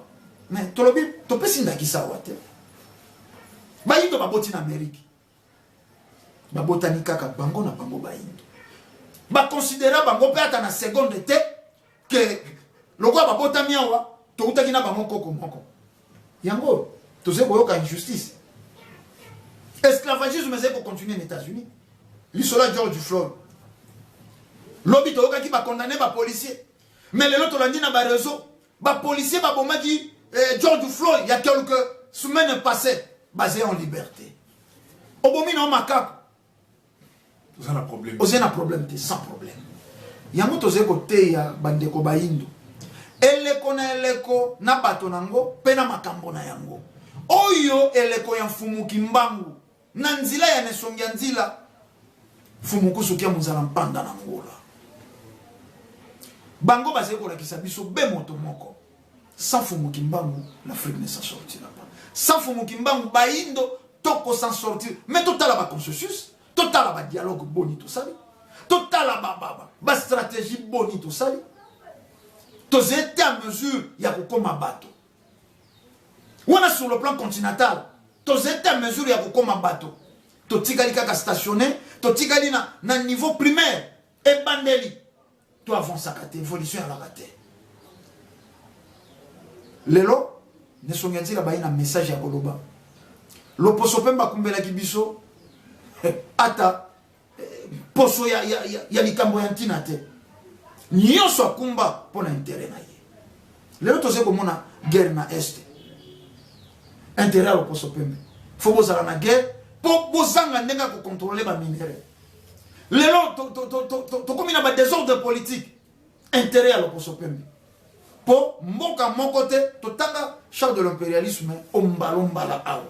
mais tolobi topesi ndakisa awa te bayindo baboti na amerike babotani kaka bango na bango bayindo bakonsidera bango mpe ata na seconde te ke lokola babotami awa toutaki na bango nkoko moko yango tozali koyoka injustice esclavagisme ezali kocontinue na états-unis lisolo ya george floyd lobi toyokaki bakondane bapolicier mais lelo tolandi na bareseau Ba policiers ba bomaki eh, George Floyd ya quelques semaines passées basé en liberté. Obomi na makap. Oza na problème. Oza na problème te sans problème. Yango tozali koteya bandeko bayindo eleko na eleko na bato na yango mpe na makambo na yango oyo eleko ya mfumu kimbangu Na nzila ya nesongia nzila. Mfumu kusu kia muzala mpanda na ngola. Bango bazali kolakisa biso be moto moko. Sans Fumu Kimbangu, l'Afrique ne s'en sortira pas. Sans Fumu Kimbangu, Baindo, toko s'en sortir. Mais totala ba consensus, totala ba dialogue boni tosali, totala ba ba ba, ba stratégie boni tosali. Tozete à mesure ya kokoma bato. wana sur le plan continental tozali ta mesure ya kokoma bato totikali kaka stationne totikali na, na niveau primaire ebandeli to avansaka te évolution ezalaka te lelo nesongi ya ntina bayi na message ya koloba loposo mpe bakumbelaki biso ata poso ya, ya, ya, ya likambo ya ntina te nyonso akumba mpo na intere na ye lelo tozali komona guerre na este intere ya loposo pembe fo bozala na guerre mpo bozanga ndenge ya kokontrole baminere lelo tokómi na badésordre politique intere ya loposo pembe mpo mboka moko te totanga charge de l'impérialisme ombalombala awa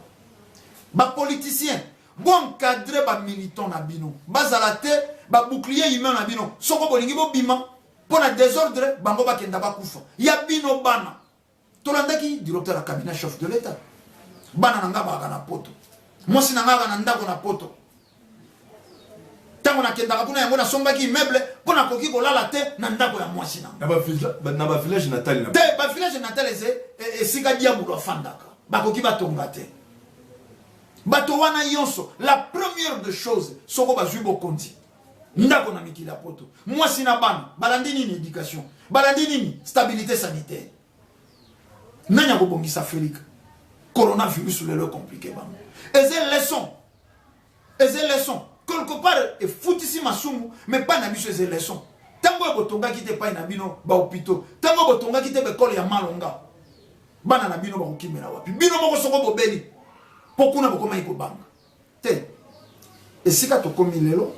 bapoliticien Bo encadrer ba militants na bino bazala te ba boucliers humains na bino soko bolingi bobima mpo na desordre bango bakenda bakufa ya bino bana tolandaki directeur ya cabinet chef de l'etat bana na ngai bakaka na poto mwasi na ngai aka na ndako na poto ntango nakendaka kuna yango nasombaki immeuble mpo nakoki kolala te na ndako ya mwasi na bavillage natal te bavillage natal ese esika diabulu afandaka bakoki batonga te Bato wana yonso, la première de choses, soko bazwi bokonzi, ndako na mikili ya poto, mwasi na bana, balandi nini? Education. Balandi nini? Stabilite sanitaire. Nani akobongisa Afrika? Coronavirus lelo ekomplike bango. Eze leson. Eze leson. Quelque part, efutisi masumu, mais pas na biso eze leson. Tango botongaki te pai na bino ba hopitaux, tango botongaki te bekole ya malonga, bana na bino bakokimela wapi bino moko soko bobeli mpo kuna bokomaki kobanga te esika tokomi lelo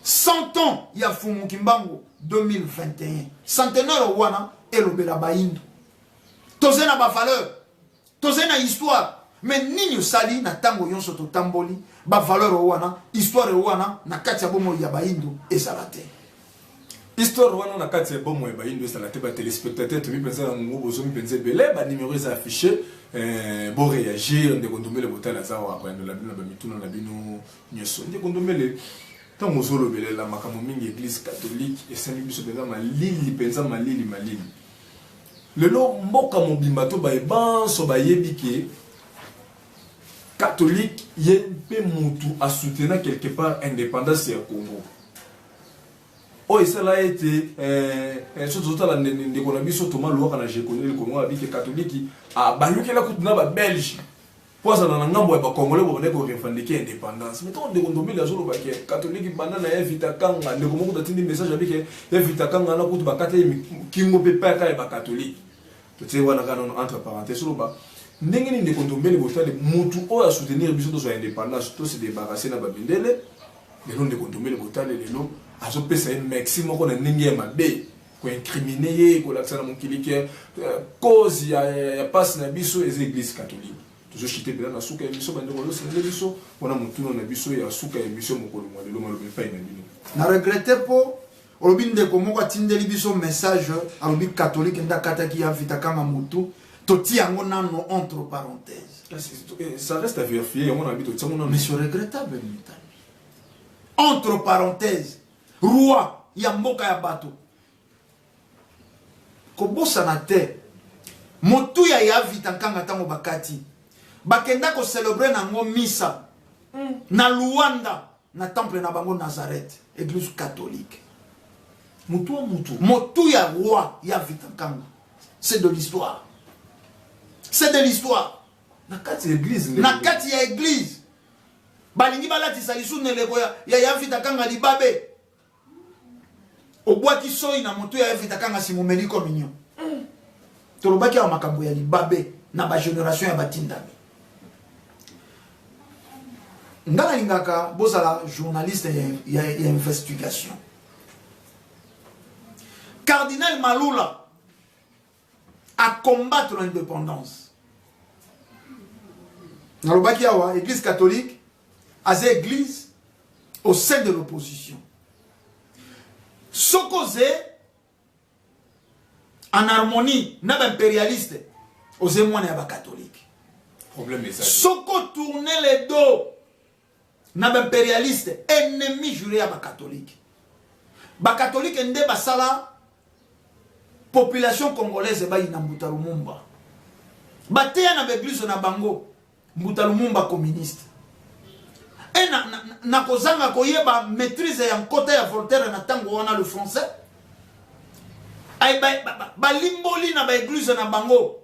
100 ans ya fumu kimbangu 2021 centenaire wana elobela bayindo tozali na bavaleur tozali na histoire me nini osali na ntango nyonso totamboli bavaleur wana histoire wana na kati ya bomoi ya bayindo ezala te Histoire wana na kati ya bomo ya bayindo ezala te ba téléspectateurs tomi penza na ngungu bozomi penza ebele ba numéro eza affiché euh, bo réagir ndeko ndombele botala aza wa koyandola bino na bamituna na bino nyonso ndeko ndombele ntango ozolobelela makambo mingi église catholique esali biso mpenza malili mpenza malili malili lelo mboka mobimba to baye banso bayebi ke catholique ye mpe motu asoutenir quelque part indépendance ya congo oyo esala ete eh, soki tozotala ndeko na biso toma lwaka na jekoneli kongo abike katoliki abalukela kutu na babelge mpo azala na ngambo ya bakongole babandaki korevandike indépendance mais ntango ndeko ndombele azoloba ke katoliki banda na ye vita kanga ndeko moko tatindi message abike ye vita kanga na kutu bakata ye kingo mpe paka ya bakatolike totie wana kaka nono entre parenthèse oloba ndenge nini ndeko ndombele botali motu oyo asoutenir biso tozwa indépendance tose débarrasse na babindele lelo ndeko ndombele botale lelo azopesa ye mexi moko na ndenge ya mabe koincrimine ye kolakisa na mokili ke euh, cause ya, ya, ya pasi na biso eza eglise catholique tozoshite mpela na suka ya biso bandeko ozosende biso mpona motuna na biso ya suka ya emission mokolo mwa lelo maloba epai na bino na regrete mpo olobi ndeko moko atindeli biso message alobi catholique nde akataki ya vita kanga motu totia yango nano entre parenthèse eh, ça reste à vérifier yango na bito tiango mais c'est regrettable mitani entre parenthèse roi ya mboka ya bato kobosana te motuya ya vita nkanga ntango bakati bakenda kocelebre na yango misa mm. na luanda Na temple na bango Nazareth, eglise catholique. Mutua mutu. Motu ya roi ya Vita Nkanga. C'est de l'histoire. C'est de l'histoire. Na kati ya eglise. Na kati ya eglise. Balingi balatisa lisu neleko ya ya Vita Kanga libabe. obwaki soyi na moto ya evita kanga nsima omeli communion tolobaki awa makambo ya libabe na bageneration ya batindami ngai nalingaka bozala journaliste ya, ya, ya investigation cardinal malula à combattre l'indépendance. nalobaki awa église catholique aza église au sein de l'opposition soki oze en harmonie na baimpérialiste oze mwana ya bakatholike soki otourne le dos na ba imperialiste ennemi jure ya ba catholique ba catholique nde basala population congolaise bayina mbuta lumumba bateya na baeglise na bango mbuta lumumba communiste e na, na, na kozanga koyeba maîtrise ya nkota ya voltaire na ntango wana le français balimboli ba, ba, ba na baeglise na bango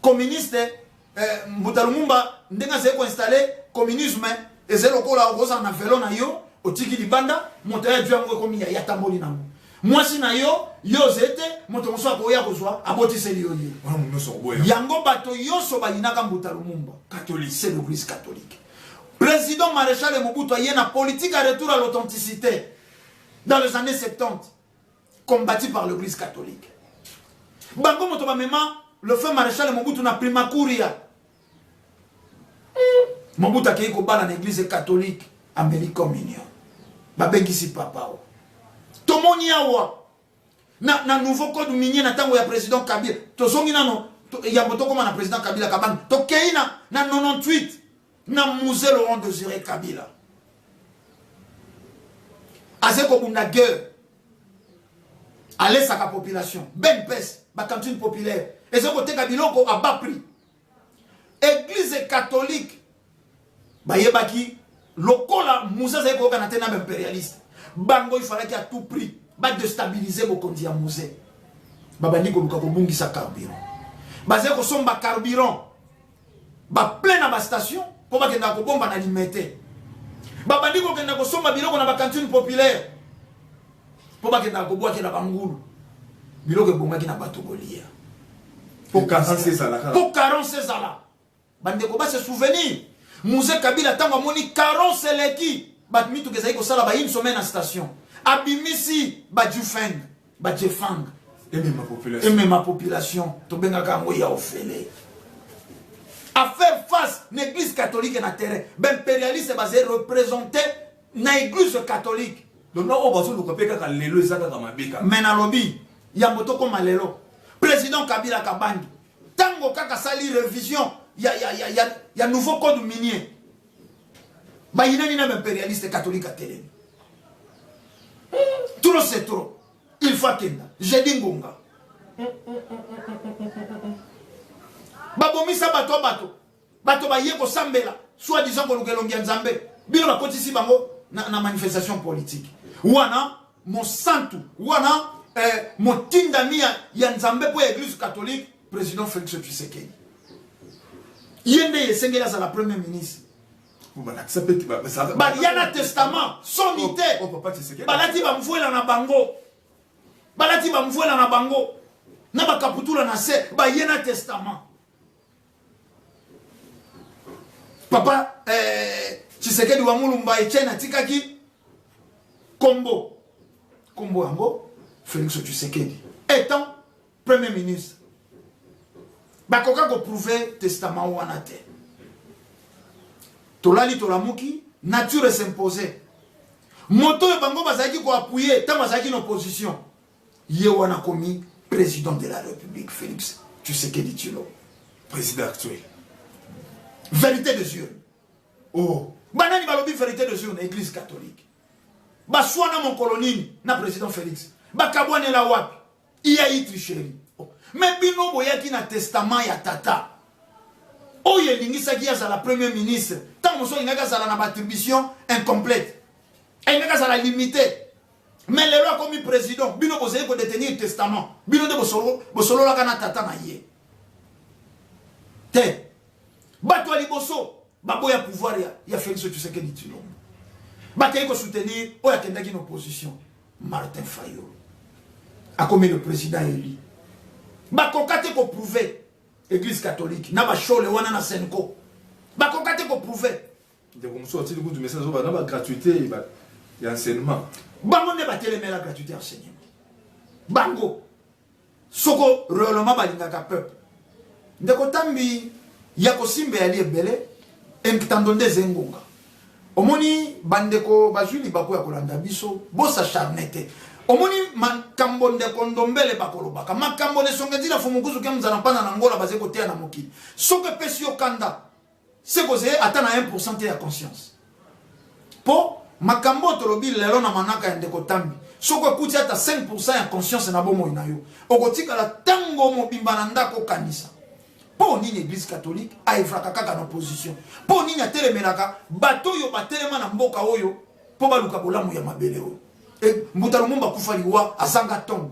communiste eh, mbuta lumumba ndenge azali koinstalle communisme ezali lokola okozala na velo na yo otiki libanda moto ya yango ekomi ya yatamboli nango mwasi na yo yo ozali te moto mosusu akoya kozwa abotiseli yo ye yango bato nyonso bayinaka mbuta lumumba c'est l'église catholique président maréchal mobutu aye na politique ya retour à l'authenticité dans les années 70 combattu par l'église catholique bango moto bamema le fin maréchal mobutu na primacuria mobutu akei kobala na église catholique ameli communion babengisi papa o tomoni awa na, na nouveau code minier na ntango ya président kabila tozongi nano to, yambo tokóma na président kabila kabange tokei na, na 98 na musée laurent dosire kabila aze kobunda guerre alesaka population ben pes bacantine populaire eza koteka biloko a bas prix église catholique bayebaki lokola musée azali koyokana te na baimperialiste bango ifalaki à tout prix badestabilize bokonzi ya musée babandi koluka kobungisa carburant bazali kosomba carburant baplena bastation mpo bakendaka kobomba na limete babandi kokenda kosomba biloko na bacantine populaire mpo bakendaka kobwakela bangulu biloko ebongaki na bato kolia mpo carence ezala bandeko base souvenir muze kabila ntango amoni carence eleki bato mituka ezali kosala ba une semaine na station abimisi bajufeng bajefang emema population, emema population. tobengaka yango ya ofele à faire face na église catholique na terrain baimpérialiste bazali représente na église catholique donc oyo bazoluka mpe kaka lelo eza kaka mabe kaka mai nalobi yambo tokóma lelo président kabila kabangi ntango kaka asali révision ya, ya, ya, ya, ya nouveau code minier bayinani na baimperialiste katolike atelemi trop c'est trop il faut akenda jedi ngonga babomisa bato ya bato bato baye kosambela soit disant koluka elongi ya nzambe bino bakotisi bango na, na manifestation politique wana mosantu wana eh, motindami ya, ya nzambe mpo ya eglise catholique President Felix Tshisekedi. Ye nde esengeli azala premier ministre. balakisa mpe balia na testament sonite oh, oh, balati bamvuela na bango balati bamvuela na bango na bakaputula na se baye na testament papa eh, tshisekedi wa mulumba etienne atikaki kombo kombo yango felix tshisekedi etant premier ministre bakoka koprouve testament wana te tolali tolamuki nature s'impose moto oyo bango bazalaki koapuye ntango azalaki na opposition ye wana komi président de la république félix tshisekedi tshilo président actuel vérité des urnes oh banani balobi vérité des urnes église catholique baswana mokolo nini na président félix bakabwanela wapi iya itri sheri me bino boyaki na testament ya tata oyo elingisaki azala premier ministre ntango mosusu alingaki azala na baattribution incomplète alingaki azala limite mais lelo akomi président bino bozali kodetenir testament bino nde bosololaka na tata na ye te bato ya liboso baboya pouvoir ya, ya félix tshisekedi tshilombo bakei kosoutenir oyo akendaki na opposition Martin Fayulu akomi le président élu bakoka te koprouve église catholique na bashole wana na senco bakoka te koprouve ndeko mosusu atili kutu message oyo bana bagratuité ya enseignement bango nde batelemela gratuité ya enseignement bango Soko reellement balingaka peuple. Ndeko Tambi ya kosimba yali ebele emktando nde eza engonga. Omoni bandeko bazwi libaku ya kolanda biso bosa charne te. Omoni makambo ndeko Ndombele bakolobaka makambo na esonga ezila fumukuzu kemza na mpana na Angola baze koteya na mokili. Soko epesi yo kanda se kozeye ata na 1% te ya conscience mpo makambo oyo tolobi lelo na manaka ya ndeko tambi soki okuti ata 5% ya conscience na bomoi na yo okotikala ntango mobimba na ndako okanisa mpo nini eglise catholique aevraka kaka na opposition mpo nini atelemelaka bato oyo batelema na mboka oyo mpo baluka bolamu ya mabele oyo e, mbuta lumumba akufa liwa azanga ntongo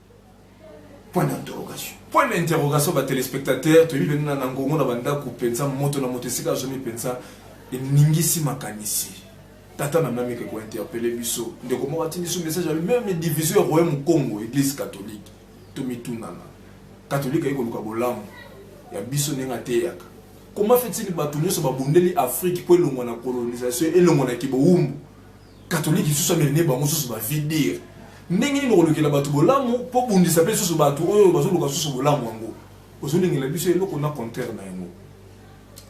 Point d'interrogation. Point d'interrogation ba telespectateurs toyebi bende na ngongo na bandako penza moto na moto esika azomi penza eningisi makanisi. Tata na mami ke ko interpeller biso ndeko moko atindi biso message ya meme division ya royaume Congo église catholique to mitunana. Catholique ayi koluka bolamu ya biso ndenge ateyaka. Comment fait-il bato nyonso babundeli Afrique po elongwa na colonisation elongwa na kibowumbu katolike lisusu ameli nde bango susu bafi dire ndenge nini okolukela bato bolamu mpo bundisa mpe lisusu bato oyo bazoluka susu bolamu yango ozolingela biso eloko na contraire na yango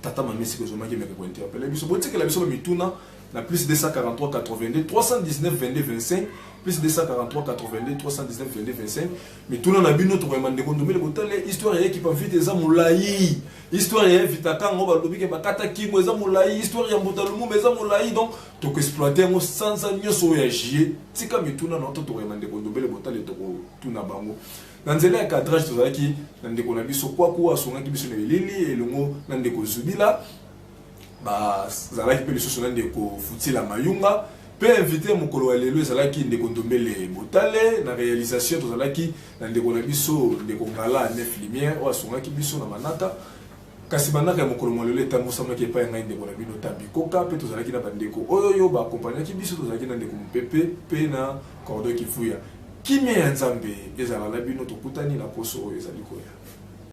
tata mamesiki ozomaki meke kointerpele biso botikela biso bamituna na plus 243 82 319 22 25 plus 243 82 319 22 25 mituna na bino tokoyamba ndeko ndomele botale histoire ya ekipa vite eza molai histoire ya vitakango balobi ke bakata kingo eza molai histoire ya mbuta lumumba eza molai donc toko exploite yango sanza nyonso oyo ya jie tika mituna na to tokoyamba ndeko ndobele botale tokotuna bango na nzela ya cadrage tozalaki na ndeko na biso kwaku asungaki biso na elili elongo na ndeko zubila bazalaki mpe lisusu na ndeko futila mayunga mpe invité ya mokolo ya lelo ezalaki ndeko ndombele botale na réalisation tozalaki na ndeko na biso ndeko ngala nef lumière oyo asungaki biso na manaka Kasi manaka ya mokolo mwa lelo etambusamaki epai ya ngai ndeko na bino Tabi Koka mpe tozalaki na bandeko oyo yo ba akompanyaki biso, tozalaki na ndeko Mupepe mpe na Cordon Kivuya. Kimia ya Nzambe ezala na bino, tokutani na poso oyo ezali koya.